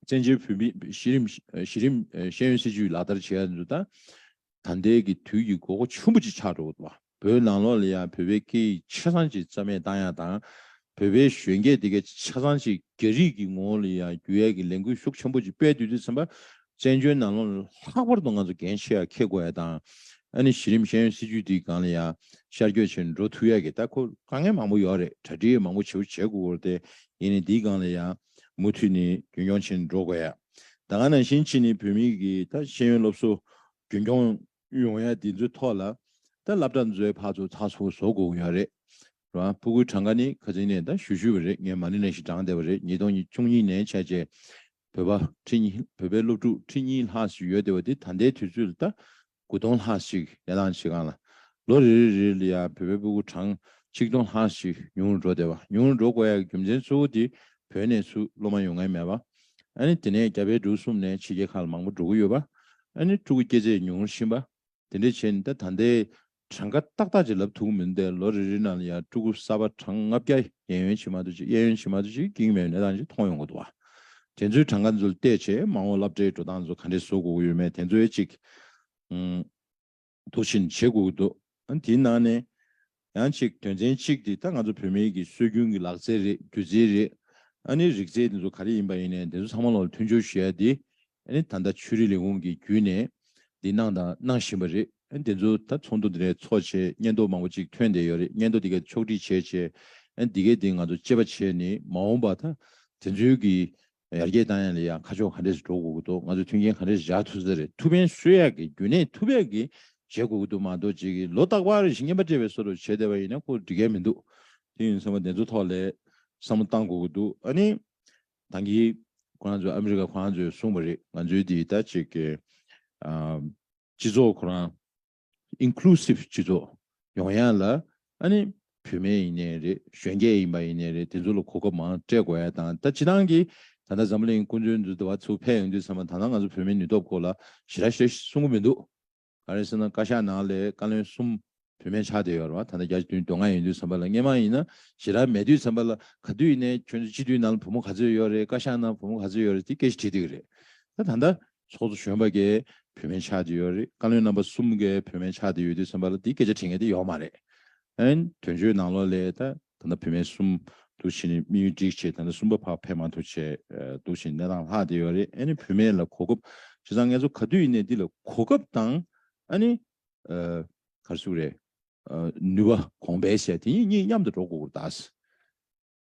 བཙན་བྱོལ་བོད་མིས་གཞི་རིམ་གཞི་རིམ་ཤེས་ཡོན་སྲིད་བྱུས་ལག་བསྟར་བྱེད་ཡ་འདུག་ད། ད་འདས་ཀྱི་དུས་ཀྱི་དགོས་མཁོ་ཆེན་པོ་ཅིག་ཆགས་འགྲོ་གི་འདུག་བ། བོད་ནང་ལོགས་ལ་ཡང་བོད་པའི་སྐད་ཡིག་ཆ་ཚང་ཅིག་རྩ་མེད་བཏང་ཡ་དང། བོད་པའི་གཞོན་སྐྱེས་དེ་གའི་ཆ་ཚང་ཅིག་རྒྱ་རིགས་ཀྱི་ངོ་བོ་ལ་ཡང་བསྒྱུར་ཡ་གི་ལས་འགུལ་ཤུགས་ཆེན་པོ་ཅིག་སྤེལ་དུས་དུས་ཚན་པ་བཙན་བྱོལ་ནང་ལོ་ལྷག་པར་དུ་ང་ཚོ་འགན་ཆེ་ཡག་འཁྱེར་དགོས་ཡ་དང། ཨ་ནི་གཞི་རིམ་ཤེས་ཡོན་སྲིད་བྱུས་འདི་གང་ལ་ཡང་ཤར་བསྐྱོད་བྱེད་འགྲོ་ཐུ་ཡག་གི་ལྟ་ཁོ་དཀའ་ངལ་མང་པོ་ཡོག་རེད་གྲ་སྒྲིག་མང་པོ་བྱེད་པོ་བྱེད་དགོས་གོ་རེད་དེ་ཡིན་ནི་འདི་གང་ལ་ཡང་མུ་མཐུད་ནི་རྒྱུན་སྐྱོང་བྱེད་འགྲོ་དགོས་ཡ། ད་གང་ནང་བཞིན་ཕྱིས་ནི་བོད་མི་གི་ད་ཤེས་ཡོན་སློབ་གསོ་རྒྱུན་སྐྱོང་ཡོང་ཡ་འདི་ཚོའི་ཐོག་ལ་ད་བླ་བྲ་མཛོའི་ཕག་ཚོ་ཚགས་ཚུགས་བཟོ་དགོས་ཡོག་རེད་རེད་བ། པུ་གུའི་གྲངས་ཀ་ནི་ཁ་ཚིག་ནས་ད་ཞུ་ཞུ་བ་རེད་ངས་མ་ནི་ནས་ཞིག་བགྲང་བསྡད་པ་རེད་ཉིས་སྟོང་ཉི་བཅུ་གཉིས་ནས་བྱས་རྗེས་བོད་པ་ཁྲི་གཉིས་བོད་པའི་སློབ་ཕྲུག་ཁྲི་གཉིས་ལྷག་ཞིག་ཡོད་དེ་བ་དེ་ད་ལྟའི་དུས་ཚོད་ལ་ལྟ་དགུ་སྟོང་ལྷག་ཞིག་ཡར་ལངས་བྱེད་སྒང་ལ་ལོ་རེ་རེ་རེ་ལ་ཡང་བོད་པའི་སྤུ་གུ་གྲངས་ཆིག་སྟོང་ལྷག་ཞིག་ཉུང་རུ་འགྲོ་དེ་བ་ཉུང་རུ་འགྲོ་དགོས་ཡག་གི་རྒྱུ་མཚན་གཙོ་བོ་དེ་བོད་ནས་སུ་སློབ་མ་ཡོང་མཁན་མེད་བ་ཨ་ནི་དེ་ནས་རྒྱ་བལ་འབྲུག་གསུམ་ནས་ཕྱི་རྒྱལ་ཁག་ལ་མང་པོ་འགྲོ་གི་ཡོད་བ་ཨ་ནི་ཕྲུ་གུ་སྐྱེ་ཚད་ཉུང་རུ་ཕྱིན་བ་དེ་འདྲའི་བྱས་ནས་ད་ད་ལྟའི་གྲངས་ཀ་ཏག་ཏག་ཅིག་ལབ་ཐུབ་ཀྱི་མི་འདུག་པས་ལོ་རེ་རེའི་ནང་ལ་ཡང་སྤྲུལ་སྐུ་གསར་པ་གྲངས་ལྔ་བརྒྱ་གཡས་གཡོན་ཕྱི་མ་དུ་ཅིག་གཡས་གཡོན་ཕྱི་མ་དུ་ཅིག་འགྱིང་མེད་པའི་གནས་སྟངས་ཅིག་མཐོང་ཡོང་གི་འདུག་བ། དེ་ཚོའི་གྲངས་ཀ་འཛུལ་བལྟས་བྱས་མ་འོངས་བསླབ་གྲྭའི་འགྲོ་སྟངས་ཚོ་ག་འདྲས་བཟོ་དགོས་ཀྱི་ཡོད་མེད་དེ་ཚོའི་ཅིག་དུ་ཕྱིན་བྱེད་དགོས་ཀྱི་འདུག་དེའི་ནང་ནས་ཡང་ཅིག་དོན་ཚན་གཅིག་དེ་ད་ང་ཚོ་བོད་མི་གི་སྲོལ་རྒྱུན་གི་ལག་རྩལ་རེད་སྒྱུ་རྩལ་རེད་ཨ་ནི་རིག་རྩལ་དེ་ཚོ་ག་རེ་ཡིན་པ་ཡིན་ནས་དེ་ཚོ་ཚང་མ་ལོ་ལ་མཐུན་སྦྱོར་ཞུ་ཡ་དེ་ཨ་ནི་ད་ལྟ་ཆོས་རིག་ལས་ཁུངས་ཀྱི་བརྒྱུད་ནས་འདི་གནང་དང་གནང་བཞིན་པ་རེད། དེ་ཚོ་ད་ཚོགས་འདུ་འདི་རེ་ཚོགས་ཆེད་སྙན་ཐོ་མང་པོ་ཅིག་ཐོན་བསྡད་ཡོད་རེད་སྙན་ཐོ་དེ་གས་ཕྱོགས་སྒྲིག་བྱས་བྱས་འདི་གས་དེ་ང་ཚོ་དཔྱད་པ་བྱས་ནས་མ་འོངས་པ་ད་དེ་ཚོའི་གི་ཡར་རྒྱས་བཏང་ཡ་ལ་ཡང་ཁ་ཕྱོགས་ག་འདྲས་སུ་འགྲོ་དགོས་ཀྱི་འདུག་ང་ཚོས་མཐུན་རྐྱེན་ག་འདྲས་བཞག་ཐུབ་ས་རེད་ཐུབ་ཕན་གསོས་ཡག་གི་བརྒྱུད་ནས་ཐུབ་ཡག་གི་བྱེད་དགོས་ཀྱི་འདུག་མ་གཏོགས་རྗེས་ཀྱི་ལོ་རྟག་པར་རེ་ཞིག་བརྙན་པར་སྤྲད་པའི་སོར་རུ་བྱས་བསྡད་པ་ཡིན་ན་ཁོ་འགྲིག་ག་མི་འདུག་དེ་ཡིན་ཚང་མ་དེ་ཚོ་ཐོག་ལས་བསམ་བློ་བཏང་དགོས་ཀྱི་འདུག་ཨ་ནི་ཐང་གིས། ཁོ་རང་ཚོས་ཨ་མི་རི་ཀ་ཁོ་རང་ཚོས་གསུངས་པ་རེད་ང་ཚོའི་འདི་ལྟ་ཅིག་གི། སྤྱི་ཚོགས་ཁོ་རང། Inclusive སྤྱི་ཚོགས། ཡོང་ཡ་ལ། ཨ་ནི། བུད་མེད་ཡིན་ནའི་རེད་གཞོན་སྐྱེས་ཡིན་པ་ཡིན་ནའི་རེད་དེ་ཚོ་ལ་གོ་སྐབས་མང་སྤྲད་དགོས་ཡ་དང་ད་སྤྱི་ཐང་གིས། ད་ལྟ་འཛམ་གླིང་ཀུན་ཚོའི་འདུ་བ་ཚུགས་འཕེལ་ཡོང་དུས་ཚང་མ་ད་ནང་ང་ཚོ་བུད་མེད་ནུས་སྟོབས་སྐོར་ལ་ཞི་ར་ཞེས་གསུངས་གི་མི་འདུག་ག་རེ་ཟེར་ན་བཀའ་ཤག་ནང་ལས་བཀའ་བློན་གསུམ་བུད་མེད་ཆགས་བསྡད་ཡོད་རེད་བ་ད་ལྟ་བརྒྱ་ཆ་དོན་བདུན་ལྔ་ཡིན་དུས་ཚན་པ་ལ་སྔས་མ་ཡིན་ན་ཞེ་དྲག་མེད་དུས་ཚན་པ་ལ་ག་དུས་ནས་ཁྱོད་ཚོ་སྤྱི་འཐུས་ནང་ལ་བུ་མོ་ག་ཚོད་ཡོད་རེད་བཀའ་ཤག་ནང་བུ་མོ་ག་ཚོད་ཡོད་རེད་དེ་སྐད་ཅིག་དྲིས་འདུག་རེད་ད་ད་ལྟ་ཚོགས་གཙོ་གཞོན་པ་འགས་བུད་མེད་ཆགས་བསྡད་ཡོད་རེད་བཀའ་བློན་རྣམ་པ་གསུམ་འགས་བུད་མེད་ཆགས་བསྡད་ཡོད་དུས་ཚན་པ་ལ་དེ་སྐད་ཆ་དྲིས་ངེས་དེ་ཡོག་མ་རེད་ཨན་དོན་གཅོད་ནང་ལོགས་ལས་ད། ད་ལྟ་བུད་མེད་གསུམ་འདུག་བཞིན་དམིགས་ཡུལ་སྒྲིག་བྱེད་ད་ལྟ་གསུམ་པ་ཕ་ཕས་མ་ཐུག་བྱས་འདུག་བཞིན་གནས་སྟངས་ལྷག་བསྡད་ཡོད་རེད་ཨ་ནི་བུད་མེད་ལ་གོ་སྐབས་བྱས་ཙང་ངལ་གསོ་ག་དུས་ཡིན་ནས་འདི་ལ་གོ་སྐབས་དང་ཨ་ནི། གར་བཞུགས་རེད། ནུས་པ་གོང་འཕེལ་བྱས་དེ་ཉིད་གཉིས་མཉམ་དུ་འགྲོ་དགོས་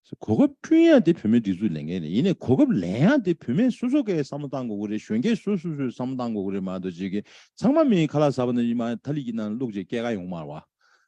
སྐོར་གདའ། གོ་སྐབས་བསྐྲུན་ཡག་དེ་བུད་མེད་སྒྲིག་འཛུགས་ལས་འགན་རེད་ཡིན་ནས་གོ་སྐབས་ལེན་ཡག་དེ་བུད་མེད་སོ་སོ་གས་བསམ་བློ་གཏང་དགོས་སྐོར་རེད་གཞོན་སྐྱེས་སོ་སོས་སོས་བསམ་བློ་གཏང་དགོས་སྐོར་རེད་མ་གཏོགས་བྱེད་མཁན་ཚང་མ་མིའི་ཁ་ལག་ཟ་བ་ནི་མ་ཐ་ལི་ཀི་ནང་བླུགས་རྗེས་སྐྱེ་རྒ་ཡོང་མར་བ།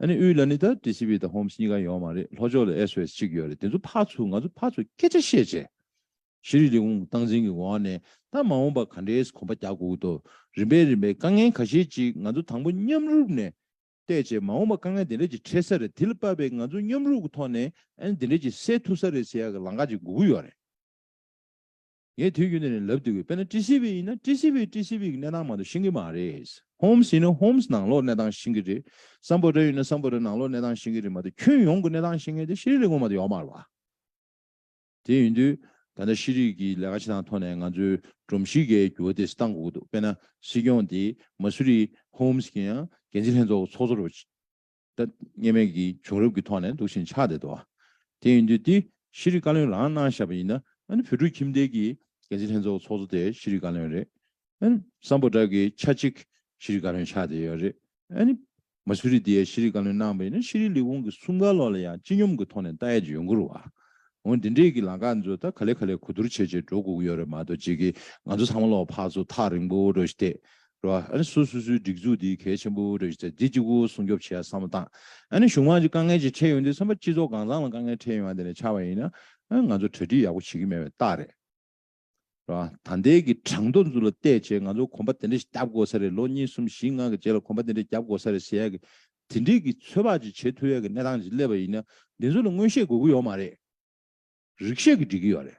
ཨ་ནི་དབུས་ལ་ནི་ད་ཏྲི་སི་བྷི་དང་ཧོམ་སི་གཉིས་ཀ་ཡོད་མ་རེད་ལྷོ་ཕྱོགས་ལ་ཨེ་སུ་ཨེས་གཅིག་ཡོད་རེད་དེ་ཚོ་ཕར་ཚུར་ང་ཚོ་ཕར་ཚུར་སྐད་ཆ་བཤད་བྱས་གཞི་རིགས་ལས་ཁུངས་སྟངས་འཛིན་གྱི་ངོ་བ་ནས་ད་མ་འོངས་པ་ག་འདྲའི་གོམ་པ་རྒྱག་དགོས་ཀྱི་འདུག་རིམ་པས་རིམ་པས་དཀའ་ངལ་ག་ཤེད་ཅིག་ང་ཚོ་དང་པོ་མཉམ་རུབ་ནས་བལྟས་བྱས་མ་འོངས་པ་དཀའ་ངལ་དེ་འདྲ་ཅིག་འཕྲད་ས་རེད་དེ་ལ་དཔག་པའི་ང་ཚོ་མཉམ་རུབ་ཀྱི་ཐོག་ནས་ཨ་ནི་དེ་འདྲ་ཅིག་སེལ་ཐུབ་ས་རེད་ཟེར་ཡག་གི་ལང་ཀ་ཅིག་འགུག་གི་ཡོད་རེད། ངས་དུས་རྒྱུན་ནས་ལབ་འདུག་གི་དཔེར་ན་ཀྲི་ཤི་བྷི་ཡིན་ན་ཀྲི་ཤི་བྷི་ཀྲི་ཤི་བྷི་གི་གནས་སྟངས་མང་དུ་ཤེས་ཀྱི་མ་རེད། ཧོམ་སི་ཡིན་ན་ཧོམ་སི་ནང་ལོགས་གནས་སྟངས་ཤེས་ཀྱི་རེད། སམ་བོ་ཏྲ་ཡིན་ན་སམ་བོ་ཏྲ་ནང་ལོགས་གནས་སྟངས་ཤེས་ཀྱི་རེད་མ་གཏོགས་ཁྱོན་ཡོངས་ཀྱི་གནས་སྟངས་ཤེས་མཁན་དེ་ཤེས་རིག་ལས་ཁུངས་མ་གཏོགས་ཡོག་མ་རེད། དེ་ཡིན་དུས་ད་ལྟ་ཤེས་རིག་གི་ལས་ཀ་བྱེད་སྟངས་ཐོག་ནས་ང་ཚོའི་སྒྲོམ་གཞི་འགའི་འགྱུར་བ་དེ་བཏང་དགོས་ཀྱི་འདུག་དཔེར་ན་སྲིད་སྐྱོང་དེ་མ་སུ་རི་ཧོམ་སི་གི་ཡང་འགན་འཛིན་ལྷན་ཚོགས་ཀྱི་ཚོགས་གཙོ་རུ། ལྟ་ངེས་མེད་ཀྱི་བྱུང་རབས་ཀྱི་ཐོག་ནས་འདུག་བཞིན་ཆགས་བསྡད་དོ། དེ་ཡིན་དུས་འདི་ཤེས་རིག་བཀའ་བློན་རང་གནང་བཞག་པ་ཡིན་ན་ཨཱ་བོད་ཕྲུག་ཁྱིམ་སྡེ་ཀྱི་འགན་འཛིན་ལྷན་ཚོགས་ཚོགས་གཙོ་དེ་ཤེས་རིག་བཀའ་བློན་རེད་ཨཱ། སམ་པོ་བྲག་གི་ཆ་གཅིག་ཤེས་རིག་བཀའ་བློན་ཆགས་བསྡད་ཡོད་རེད་ཨཱ། མ་སུ་རི་དེ་ཤེས་རིག་བཀའ་བློན་གནང་པ་ཡིན་ན་ཤེས་རིག་ལས་ཁུངས་ཀྱི་གསུམ་ག་ལོག་ལ་ཡང་སྤྱི་སྙོམས་ཀྱི་ཐོག་ནས་ལྟ་ཡས་ཀྱི་ཡོང་གི་རུ་བ། འོན་འདི་འདྲས་ཀྱི་ལངས་ཀ་ཚོ་ད་ག་ལེ་ག་ལེ་གོ་བསྡུར་བྱེད་བྱེད་འགྲོ་སྒུག་ཡོད་རེད་མ་གཏོགས་ཅིག་གིས་ང་ཚོ་ཚང་མ་ལོག་ཕག་ཚོ་ཐག་རིང་པོ་འགྲོ་བཞིན་བསྡད་རེད། སོ་སོ་སོའི་སྒྲིག་འཛུགས་འདི་གལ་ཆེན་པོ་རེད། འདི་གཅིག་པུ་སྲུང་སྐྱོབ་བྱེད་བསམ་བློ་བཏང། གཞུང་མང་གཅིག་དཀའ་ངལ་ཅིག་འཕྲད་ཡོང་དུས་བསམ་པ་སྤྱི་ཚོགས་གང་བཟང་ལ་དཀའ་ངལ་འཕྲད་ཡོང་ཡང་དེ་ནས་ཆགས་པ་ཡིན། ང་ཚོ་གྲ་སྒྲིག་ཡག་པོ་བྱེད་ཀྱི་མེད་པའི་རྟགས་རེད། ད་ལྟའི་གི་གྲངས་ཐོ་འཛུགས་ལ་བལྟས་རྗེས་ང་ཚོ་གོམ་པ་དེ་འདྲ་ཞིག་བརྒྱབ་དགོས་ས་རེད་ལོ་གཉིས་གསུམ་བཞི་ལྔ་གི་རྗེས་ལ་གོམ་པ་དེ་འདྲ་བརྒྱབ་དགོས་ས་རེད་ཟེར་ཡག་གི། དེ་འདྲིས་གི་ཚོད་དཔག་ཅིག་བྱེད་ཐུབ་ཡག་གི་གནས་སྟངས་ཅིག་སླེབས་པ་ཡིན། འདི་ཚོ་ལ་མངོན་ཤེས་དགོས་ཀྱི་ཡོད་མ་རེད། རིགས་ཤེས་ཀྱི་སྒྲིག་གི་ཡོད་རེད།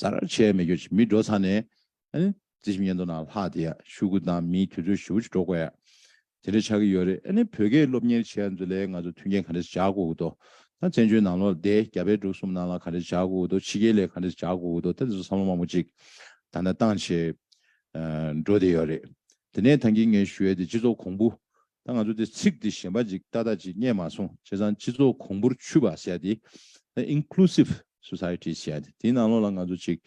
ཟ་རར་ཆས་མེད་གྱོ་ཞིག་མི་འགྲོ་ཚར་ནས། ཨེ། རྩི་ཞིམ་ཉན་དུ་ན་ལྷག་དེ་ཡ་ཤུ་གུ་དང་མིའི་དུས་ཚོད་ཞུ་བོ་ཅིག་འགྲོ་དགོས་ཡ། དེ་འདྲ་ཆགས་ཀྱི་ཡོད་རེད་ཨེ་ནི་བོད་སྐད་སློབ་གཉེར་བྱས་ཚུ་ལས་ང་ཚོ་མཐུན་རྐྱེན་ག་འདྲ་ཞིག་བྱ་དགོས་ཀྱི་དོ། ད་བཙན་བྱོལ་ནང་ལོ་ཟླའི་བརྒྱ་པའི་དྲུག་གསུམ་ནང་ལ་ག་འདྲ་ཞིག་བྱ་དགོས་ཀྱི་དོ་ཕྱི་རྒྱལ་ལས་ག་འདྲ་ཞིག་བྱ་དགོས་ཀྱི་དོ་ད་དེ་ཚོ་བསམ་བློ་མང་པོ་ཅིག་ད་ནས་བཏང་བྱས། འགྲོ་བསྡད་ཡོད་རེད་དེ་ནས་ཐང་གིས་ངས་ཞུ་ཡ་དེ་སྤྱི་ཚོགས་གོང་བུ། ད་ང་ཚོ་དེ་ཚིག་དེ་གཞན་པ་ཅིག་ཏག་ཏག་ཅིག་རྙེད་མ་སོང་བྱས་ཙང་སྤྱི་ཚོགས་གོང་བུར་ཆུད་པ་བྱས་ཏེ་ད Inclusive Society བྱས་ཏེ་དེའི་ནང་ལོགས་ལ་ང་ཚོ་ཅིག་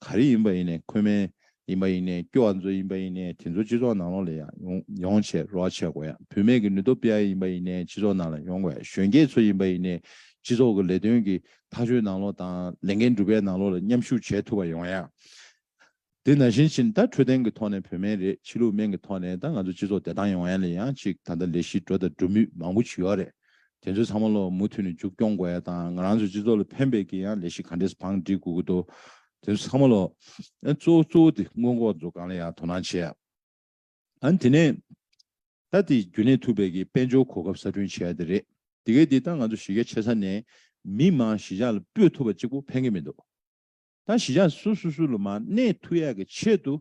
ག་རེ་ཡིན་པ་ཡིན་ནས་འཁོས་མེད་ཡིན་པ་ཡིན་ནས་སྐྱོ་བ་མཛོད་ཡིན་པ་ཡིན་ནས་དེ་ཚོ་སྤྱི་ཚོགས་ནང་ལོགས་ལ་ཡང་ཡོང་བྱས་རོགས་བྱས་དགོས་ཡ་བུད་མེད་ཀྱི་ནུས་སྟོབས་སྤེལ་ཡ་ཡིན་པ་ཡིན་ནས་སྤྱི་ཚོགས་ནང་ལ་ཡོང་དགོས་ཡ་གཞོན་སྐྱེས་ཚོ་ཡིན་པ་ཡིན་ནས་སྤྱི་ཚོགས་ཀྱི་ལས་དོན་གྱི་ཐག་གཅོད་ནང་ལོགས་དང་ལས་འགན་སྒྲུབ་པའི་ནང་ལོགས་ལ་མཉམ་ཞུགས་བྱས་ཐུབ་པ་ཡོང་ཡ་དེ་ན་བཞིན་ཕྱིན་ད་འཕྲོད་བསྟེན་གྱི་ཐོག་ནས་བོད་སྨན་རེད་ཕྱི་ལུགས་སྨན་གྱི་ཐོག་ནས་ད་ང་ཚོ་སྤྱི་ཚོགས་བདེ་ཐང་ཡོང་ཡན་ལ་ཡང་ཅིག་ད་ལྟ་ལས་གཞི་འགྲོ་དང་འགྲོ་མུས་མང་པོ་བྱུས་ཡོག་རེད་དེ་ཚོ་ཚང་མ་ལོག་མུ་མཐུད་ནས་མཇུག་སྐྱོང་དགོ་ཡ་དང་ང་རང་ཚོ་སྤྱི་ཚོགས་ལ་ཕན་པའི་གྱི་ཡང་ལས་གཞི་ག་འདྲེས་བང་སྒྲིག་དགོས་གི་འདུག་དེ་ཚོ་ཚང་མ་ལོག་ཨན་གཙོ་བོ་གཙོ་བོ་དེ་སྔོན་འགོག་འཛོ་གང་ལ་ཡང་དོ་སྣང་བྱེད་ཡ་ཨན་དེ་ནས་ད་དེ་རྒྱུན་གནས་ཐུབ་པའི་གྱི་དཔལ་འབྱོར་གོ་སྐབས་གསར་སྐྲུན་བྱེད་ཡ་དེ་རེད་དེ་གའི་དེ་ད་ང་ཚོ་གཞི་རྒྱ་ཆེ་ས་ནས་མི་མང་གཞི་ཆགས་ལ་སྤོས་ཐུབ་པ་གཅིག་པོ་ཕན་གྱི་མི་འདུག། ད་གཞི་ཆགས་སུ་སུ་སུ་ལ་མ་གནས་ཐུ་ཡག་གི་ཆེད་དུ་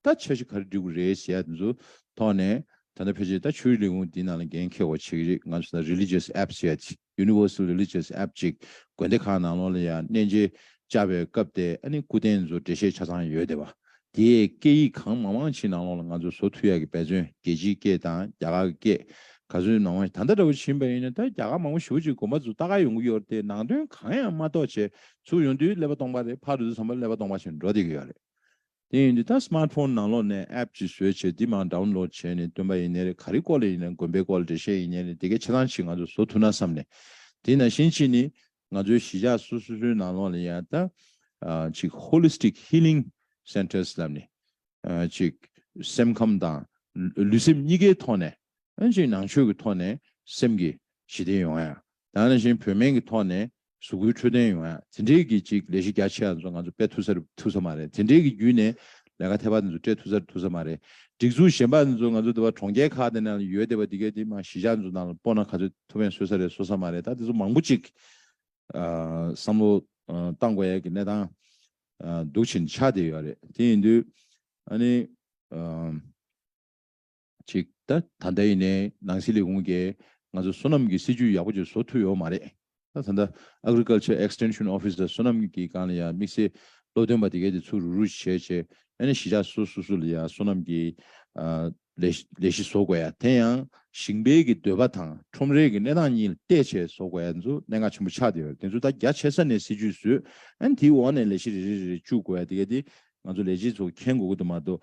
ད་ཆ་ཞིག་ག་རེ་འགྲིག་གི་རེད་ཞེས་ཡ་དེ་ཚོ་ཐོག་ནས་ད་ལྟ་ཕལ་ཆེར་ད་ཆོས་རིག་ལས་ཁུངས་འདིའི་ནང་ལ་འགན་འཁེར་བ་བྱེད་ཀྱི་རེད་ང་ཚོ་ད Religious App ཞེས་ཡ Universal Religious App ཅིག་དགོན་སྡེ་ཁག་ནང་ལོགས་ལ་ཡ་གནས་མཇལ་བཅར་བའི་སྐབས་དེ་ཨ་ནི་སྐུ་རྟེན་ཚོ་འགྲེལ་བཤད་ཆ་ཚང་ཡོད་དེ་བ་དེས་སྐད་ཡིག་གང་མང་མང་ཕྱིའི་ནང་ལོགས་ལ་ང་ཚོ་བཟོ་ཐུབ་ཡག་གི་འབད་བརྩོན་རྒྱལ་སྤྱིའི་སྐད་དང་རྒྱ་གར་གི་སྐད་ག་ཚོད་ནང་བ་ད་ལྟ་འདྲ་བོ་བྱིན་པ་ཡིན་ན་ད་རྒྱ་གར་མང་པོ་ཞི་བ་གཅིག་གོམ་པ་ཚོ་ད་ག་ཡོང་གི་ཡོད་རེད་དེ་ནང་དོན་གང་ཡང་མ་རྟོགས་བྱས་ཚུགས་ཡོང་དུས་ཀླད་པ་སྟོང་པ་རེད་ཕར་འདུག་བསམ་པ་ཀླད་པ་སྟོང་པ་བཞིན་འགྲོ་བསྡད་ཀྱི་ཡོད་རེད་དེ་ཡིན་དུས་ད Smart Phone ནང་ལོགས་ནས App ཅིག་བཟོས་བྱས་འདི་མང Download བྱས་ནས་སྟོན་པ་ཡིན་ནའི་རེད་ག་རེ་སྐོར་ལ་ཡིན་ནའི་དགོན་པའི་སྐོར་ལ་འགྲེལ་བཤད་ཡིན་ནའི་རེད་དེ་གའི་ཆེ་ཐང་ཅིག་ང་ཚོ་བཟོ་ཐུབ་ན་བསམ་ནས་དེ་ནང་བཞིན་གཅིག་ནི་ང་ཚོའི་གཞིས་ཆགས་སོ་སོ་སོའི་ནང་ལོགས་ལ་ཡང་དག་ཅིག Holistic Healing Centers ལབ་ནས་ཅིག་སེམས་ཁམས་དང་ལུས་སེམས་གཉིས་ཀའི་ཐོག་ནས་ཅིག་ནང་ཆོས་ཀྱི་ཐོག་ནས་སེམས་ཀྱི་ཞི་བདེ་ཡོང་ཡ། དང་ནང་བཞིན་བོད་སྨན་གྱི་ཐོག་ནས་གཟུགས་སྐུའི་འཕྲོད་བསྟེན་ཡོང་ཡ། དེ་འདྲའི་གི་ཅིག་ལས་གཞི་རྒྱ་ཆེ་བ་ཚོ་ང་ཚོ་སྤེལ་ཐུབ་ས་རེད་ཐུབ་ས་མ་རེད་དེ་འདྲའི་གི་བརྒྱུད་ནས་ལས་ཀ་ཐེབས་པ་དེ་ཚོ་སྤྲད་ཐུབ་ས་རེད་ཐུབ་ས་མ་རེད། སྒྲིག་འཛུགས་གཞན་པ་དེ་ཚོ་ང་ཚོ་འདི་བ་གྲོང་ཁྱེར་ཁག་དེ་ནང་ཡོད་དེ་བ་དེ་གས་དེ་མ་གཞིས་ཆགས་དེ་ཚོ་ནང་ལ་སྤོ་ན་ག་ཚོད་ཐུབ་བས་བཟོས་ས་རེད་བཟོ་ས་མ་རེད་ད་དེ་ཚོ་མང་པོ་ཅིག་བསམ་བློ་བཏང་དགོས་ཡས་ཀྱི་གནས་སྟངས་འདུག་ཕྱིན་ཆ་དེ་ཡོད་རེད་དེ་ཡིན་དུས་ཨ་ནི། ཅིག། ད་ལྟ་ཡིན་ནའི་ནང་སྲིད་ལས་ཁུངས་ཀྱིས་ང་ཚོ་བསོད་ནམས་ཀྱི་སྲིད་ཇུས་ཡག་པོ་ཅིག་བཟོ་ཐུབ་ཡོད་མ་རེད། ད་ལྟ Agriculture Extension Office ལ་བསོད་ནམས་ཀྱི་སྒང་ལ་ཡང་དམིགས་བསལ་བློ་འདོན་པ་དེ་གའི་དེ་ཚོ་རུ་རུ་བྱས་བྱས་ནས་གཞིས་ཆགས་སོ་སོ་སོ་ལ་ཡང་བསོད་ནམས་ཀྱི་ལས་གཞི་བཟོ་དགོས་ཡ་དེ་ཡང་ཞིང་པའི་གི་འདོད་པ་དང་ཁྲོམ་རའི་གི་གནས་སྟངས་གཉིས་ལ་བལྟས་བྱས་བཟོ་དགོས་ཡ་དེ་ཚོ་གནད་འགག་ཆེན་པོ་ཆགས་ཏེ་ཡོད་དེ་ཚོ་ད་རྒྱ་ཆེ་ས་ནས་སྲིད་ཇུས་བཟོས་ཨན་དེའི་འོག་ནས་ལས་གཞི་རེ་རེ་རེ་རེ་བཅུག་དགོས་ཡ་དེ་གའི་དེ་ང་ཚོ་ལས་བྱེད་ཚོ་མཁྱེན་དགོས་ཀི་དུ་མ་གཏོགས།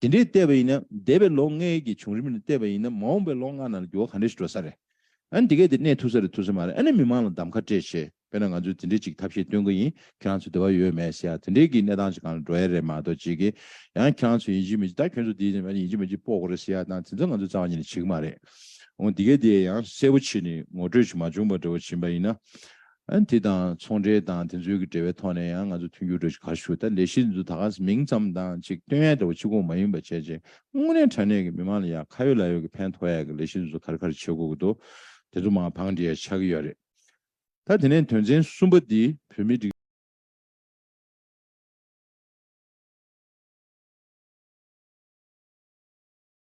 དེ་འདྲའི་བལྟས་པ་ཡིན་ན་འདས་པའི་ལོ་ལྔའི་གི་བྱུང་རིམ་ནས་བལྟས་པ་ཡིན་ན་མ་འོངས་པའི་ལོ་ལྔ་ནང་ལ་འགྱུར་བ་ག་འདྲས་ཤིག་འགྲོ་ས་རེད། ཨ་ནི་དེ་གས་དེ་གནས་ཐུག་ས་རེད་ཐུག་ས་མ་རེད་ཨ་ནི་མི་མང་ལ་གདམ་ཁ་སྤྲད་བྱས་དཔེར་ན་ང་ཚོས་དེ་འདྲའི་ཅིག་ཐབས་ཤེས་སྟོན་གི་ཡིན་ཁྱེད་རང་ཚོས་དེ་བ་ཡོད་མེད་ཤེས་ཡ་དེ་འདྲའི་གི་གནས་སྟངས་ཅིག་གང་ལ་འགྲོ་ཡ་རེད་མ་གཏོགས་ཅིག་གི་ཡང་ཁྱེད་རང་ཚོས་ཡིན་གཅིག་མིན་གཅིག་ད་ཁྱོད་ཚོ་དེ་ཡིན་གཅིག་མིན་གཅིག་སྤོ་དགོ་རེད་ཤེས་ཡ་ནང་དེ་ཚོ་ང་ཚོས་རྩ་བ་ཉིད་ནས་བྱེད་གི་མ་རེད་འོང་དེ་གས་དེ་ཡང་གསལ་པོ་བྱེད་ནི་ངོ་སྤྲོད་ཅིག་མ་བྱུང་བ་འདྲ་བོ་བྱིན་པ་ཡིན་ན་དེ་དང་ཚོང་འབྲེལ་དང་དེ་ཚོའི་གི་འབྲེལ་བའི་ཐོག་ནས་ཡང་ང་ཚོ་མཐུན་འགྱུར་འགྲོ་ཆེད་ག་ཞུ་ད་ལས་གཞི་འདི་ཚོ་ད་ག་མིང་ཙམ་དང་ཅིག་སྟོན་ཡ་འདྲ་བོ་ཕྱི་གོང་མ་ཡིན་པ་བྱས་རྗེས་དངོས་གནས་དྲ་གནས་གི་མི་མང་ལ་ཡང་ཁ་ཡོད་ལག་ཡོད་གི་ཕན་ཐོག་ཡ་གི་ལས་གཞི་འདི་ཚོ་གར་གར་བྱེད་དགོས་གི་འདུག་དེ་ཚོ་མང་བང་འགྲིག་ཡ་ཆགས་གི་ཡོད་རེད་ད་དེ་ནས་དོན་ཚན་གསུམ་པ་འདི་བོད་མི་སྒྲིག།